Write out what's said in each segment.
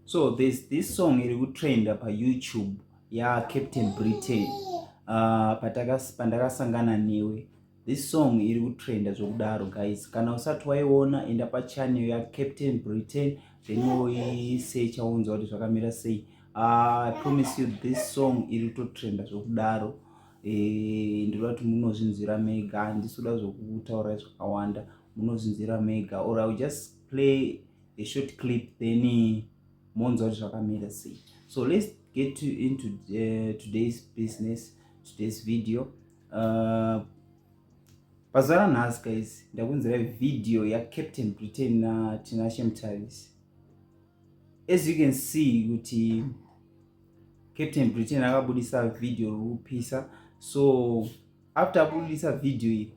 so there's this song iri kutrenda payoutube yacaptain britain uh, ah, pandakasangana newe this song iri kutrenda zvokudaro guys kana usati waiona enda pachanel yacaptain britain then woisecha wonzwa kuti zvakamira sei ah, i promise you this song iri kutotrenda zvokudaro eh, ndinoda kuti munozvinzwira mega handisi kuda zvokutaura zvakawanda munozvinzwira mega or iwill just play a short clip then eh, monzwa kuti zvakamira sei so let's get to into uh, today's business today's video uh, pazuva ranhasi guys ndakunzira video yacaptain britain natinashe mutavis as you can see kuti captain britain akabudisa video rokupisa so after abudisa video iyi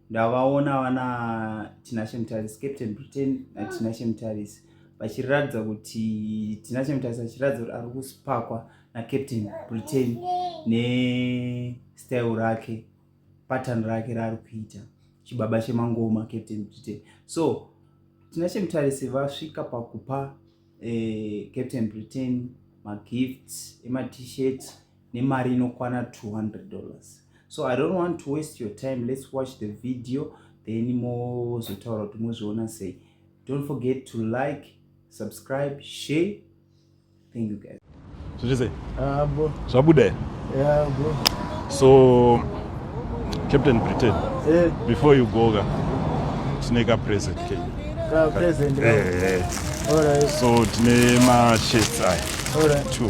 ndavaona vana tinashe mutarisi captain britain natinashe mutarisi vachiratidza kuti tinashe mutarisi achiratidza kuti ari kusipakwa nacaptain britain nestyle rake pattern rake raari kuita chibaba chemangoma captain britain so tinashe mutarisi vasvika pakupa eh, captain britain magifts ematshirt nemari inokwana 200 dollars so i don't want to waste your time let's watch the video then mozotaura kuti mozviona sei don't forget to like subscribe share thank you guys zvichise ah, zvabuda yeah, bro. so captain britain yeah. before you go ka tine ka present ke ka present eh, eh. All right. so tine mashirts aya All right. two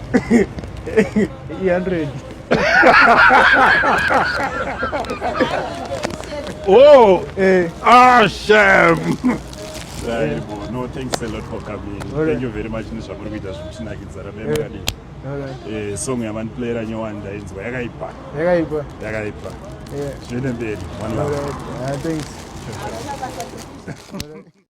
100 Oh, eh. ah, shame. Saibo, no, thanks a lot for coming. All Thank you very much nezvamuri kuita zvekutinakidza rabemba Eh. kadii. All right. Eh, song yamaniplayera nyowani ndainzwa yakaipa Yakaipa. yakaipa Yeah. zviende mberi one All love right. Ah, thanks.